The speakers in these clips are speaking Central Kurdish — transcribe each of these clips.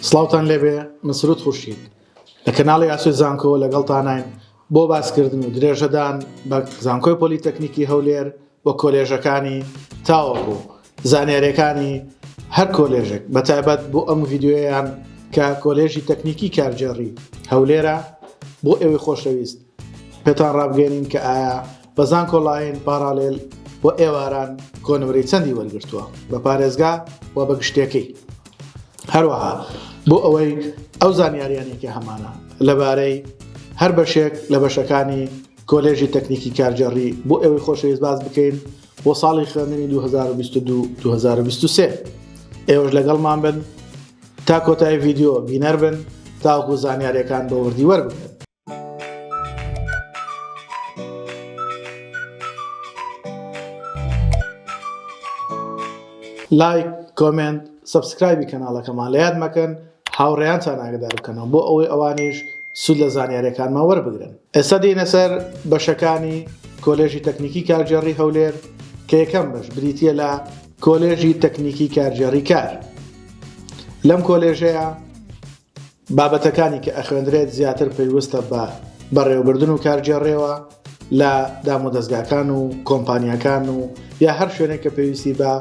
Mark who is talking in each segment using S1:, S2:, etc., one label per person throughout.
S1: سڵاوتان لێبێ من سرود خورشید لە کەناڵی ئاسۆی زانکۆ لەگەڵتاناین بۆ باسکردن و درێژەدان بە زانکۆی پۆلیتەکنیکی هەولێر و کۆلێژەکانی تاوەکو زانیاریەکانی هەر کۆلێژێک بە تایبەت بۆ ئەم ڤیددیویان کە کۆلێژی تەکنیکی کارگێڕی هەولێرە بۆ ئێوەی خۆشەویست پێتان ڕابگەێنین کە ئایا بە زانکۆ ڵاین، پاڕالێل، و ئێواران کۆنمرەی چەندی وەرگرتووە بە پارێزگا و بە گشتێکەی؟ هەروەها بۆ ئەوەی ئەو زانیاریانەی کە هەمانە لەبارەی هەر بەشێک لە بەشەکانی کۆلێژی تەکنیکی کارگێڕی بۆ ئێوەی خۆشەویست باس بکەین بۆ ساڵی خوێندنی 2022 2023 ئێوەش لەگەڵمان بن تا کۆتایی ڤیددیو بینەر بن تاوەکو زانیاریەکان بۆ وردی وەربگرن لایک کۆمێنت سەبسکرایبی کەناڵەکەمان لە یاد مەکەن هاوڕێیانتان ئاگدار بکەنەوە بۆ ئەوەی ئەوانیش سود لە زانیارەکانمان وەربگرن ئێستا دینە سەر بەشەکانی کۆلێژی تەکنیکی کارگێڕی هەولێر کە یەکەم بەش بریتە لە کۆلێژی تەکنیکی کارگێڕی کار لەم کۆلێژەیە بابەتەکانی کە ئەخوێندرێت زیاتر پەیوستە بە بەڕێوەبردن و کارگێڕێوە لە دامودەزگاکان و کۆمپانیاکان و یا هەر شوێنێک کە پێویستی بە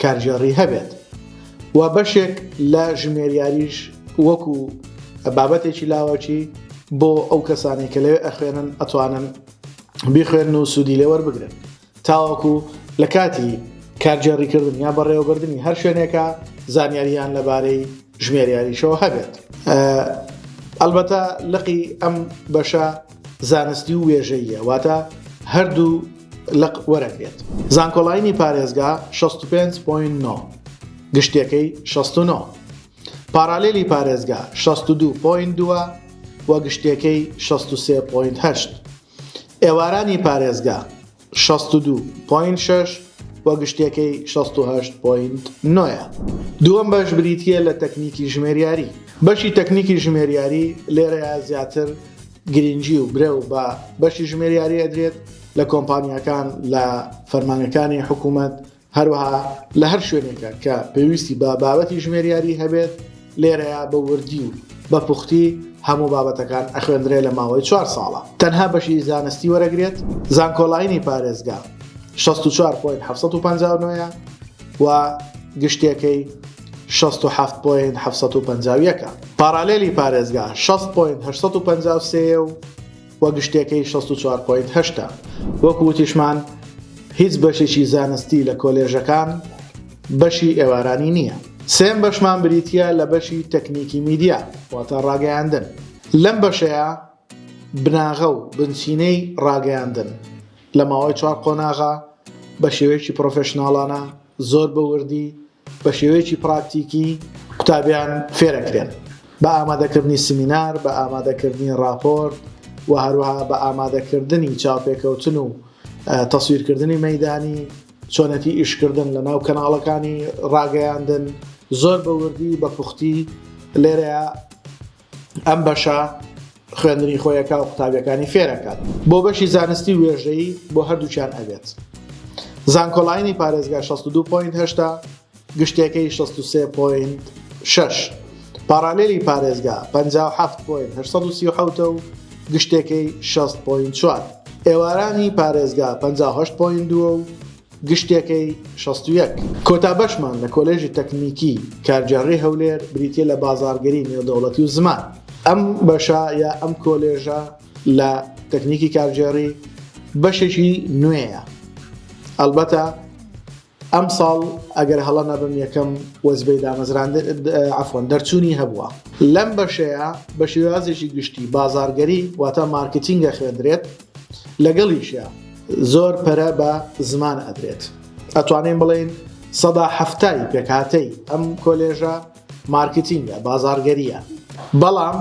S1: کارگێڕی هەبێت و بەشێک لە ژمێریاریش وەکو بابەتێکی لاوەکی بۆ ئەو کەسانی کە لەوێ ئەخوێنن ئەتوانن بیخوێن و سوودی لێوەربگرن تاوەکو لە کاتی کارگێڕیکردن یا بەڕێوەبردنی هەر شوێنێکە زانیاریان لەبارەی ژمێریاریشەوە هەبێت. ئەلبەتە لقی ئەم بەشە زانستی و وێژەیە واتە هەردوو لق وەرەگرێت. زانکۆڵاینی پارێزگا 65.9 گشتیەکەی 69 پاڕالێلی پارێزگا 62.2 و گشتیەکەی 63.8. ئێوارانی پارێزگا، شەست و دوو پۆینت شەش، و گشتیەکەی، شەست و هەشت پۆینت نۆ، ە. دووەم بەش بریتییە لە تەکنیکی ژمێریاری. بەشی تەکنیکی ژمێریاری لێرەیا زیاتر گرینگی و برەو بە بەشی ژمێریاری ئەدرێت لە کۆمپانیاکان لە فەرمانەکانی حکومەت هەروەها لە هەر شوێنێکە کە پێویستی بە بابەتی ژمێریاری هەبێت لێرەیا بە وردی و بە پوختی هەموو بابەتەکان ئەخوێندرێ لە ماوەی چوار ساڵە تەنها بەشی زانستی وەرەگرێت زانکۆلاینی پارێزگا شەست و چوار پۆینت حەفت سەد و پەنجا و نۆ یە و گشتیەکەی شەست و حەفت پۆینت حەفت سەد و پەنجا و یەکە پارالێلی پارێزگا شەست پۆینت هەشت سەد و پەنجا و سێ یە و و گشتەکەی شەست و چوار پۆینت هەشتا. وەکو وتیشمان هیچ بەشێکی زانستی لە کۆلێژەکان بەشی ئێوارانی نییە. سێم بەشمان بریتییە لە بەشی تەکنیکی میدیا واتە ڕاگەیاندن. لەم بەشەیا بناغە و بنچینەی ڕاگەیاندن لە ماوەی چوار قۆناغە بە شێوەیەکی پڕۆفێشناڵانە، زۆر بە وردی بە شێوەیەکی پراکتیکی قوتابیان فێرەکرێن بە ئامادەکردنی سمینار، بە ئامادەکردنی ڕاپۆرت و هەروەها بە ئامادەکردنی چاوپێکەوتن و تەسویرکردنی مەدانی، چۆنێتی ئیشکردن لە ناو کەناڵەکانی ڕاگەیاندن زۆر بە وردی بە پوختی لێرەیە ئەم بەشە خوێندنی خۆیەکە و قوتابیەکانی فێرەکات. بۆ بەشی زانستی وێژەیی بۆ هەردووکیان ئەبێت زانکۆلاینی پارێزگا شەست و دوو پۆینت هەشتا گشتێکەی شەست و سێ پۆینت شەش پاڕالێلی پارێزگا پەنجا و حەفت پۆینت هەشت سەد و سی و حەوت و گشتێکەی شەست پۆینت چوار ئێوارانی پارێزگا پەنجا و هەشت پۆینت دوو و گشتێکەی شەست و یەک. کۆتا بەشمان لە کۆلێژی تەکنیکی کارگێڕی هەولێر بریتییە لە بازاڕگەری نێودەوڵەتی و زمان. ئەم بەشە یا ئەم کۆلێژە لە تەکنیکی کارگێڕی بەشێکی نوێیە ئەڵبەتە ئەمساڵ ئەگەر هەڵە نەبم یەکەم وەزبەی دامەزراندن عەفوەن دەرچوونی هەبووە. لەم بەشەیە بە شێوازێکی گشتی بازاڕگەری واتە مارکتینگە خوێندرێت. لەگەڵیشیا زۆر پەرە بە زمان ئەدرێت ئەتوانین بڵێین سەدا حەفتای پێکهاتەی ئەم کۆلێژە مارکتینگە بازارگەریە بەڵام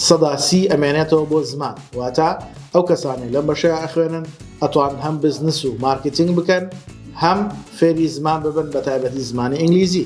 S1: سەدا سی ئەمێنێتەوە بۆ زمان واتە ئەو کەسانی لەم بەشەیە ئەخوێنن ئەتوان هەم بزنس و مارکتینگ بکەن هەم فێری زمان ببن بە تایبەتی زمانی ئینگلیزی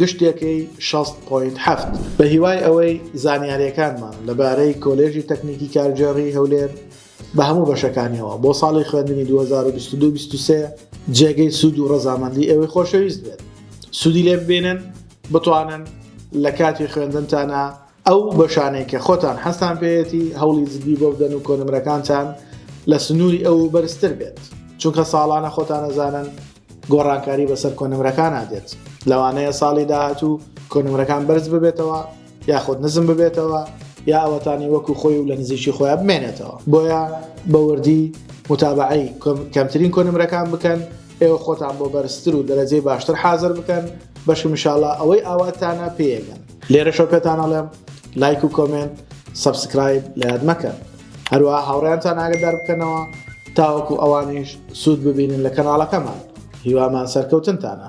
S1: گشتیەکەی شەست پۆینت هەفت. بەهیوای ئەوەی زانیاریەکانمان لەبارەی کۆلێژی تەکنیکی کارگێڕی هەولێر بە هەموو بەشەکانیەوە بۆ ساڵی خوێندنی دوو هەزار و بیست و دوو بیست و سێ جێگەی سوود و ڕەزامەندی ئێوەی خۆشەویست بێت سوودی لێ ببینن بتوانن لە کاتی خوێندنتانا ئەو بەشانەی کە خۆتان حەزتان پێیەتی هەوڵی جدی بۆ بدەن و کۆنمرەکانتان لە سنوری ئەو بەرزتر بێت چونکە ساڵانە خۆتان ئەزانن گۆڕانکاری بەسەر کۆنمرەکانا دێت لەوانەیە ساڵی داهاتوو کۆنمرەکان بەرز ببێتەوە یاخود نزم ببێتەوە یا ئەوەتانی وەکو خۆی و لە نزیکی خۆیان بمێنێتەوە بۆیە بە وردی متابەعەی کەمترین کۆنمرەکان بکەن ئێوە خۆتان بۆ بەرزتر و دەرەجەی باشتر حازر بکەن بەشم ان شاء اللە ئەوەی ئاواتانە پێیەگەن. لێرەشەوە پێتان ئەڵێم لایک و کۆمێنت سەبسکرایب لە یاد مەکەن هەروەها هاوڕێیانتان ئاگدار بکەنەوە تاوەکو ئەوانیش سوود ببینن لە کەناڵەکەمان هیوامان سەرکەوتنتانە.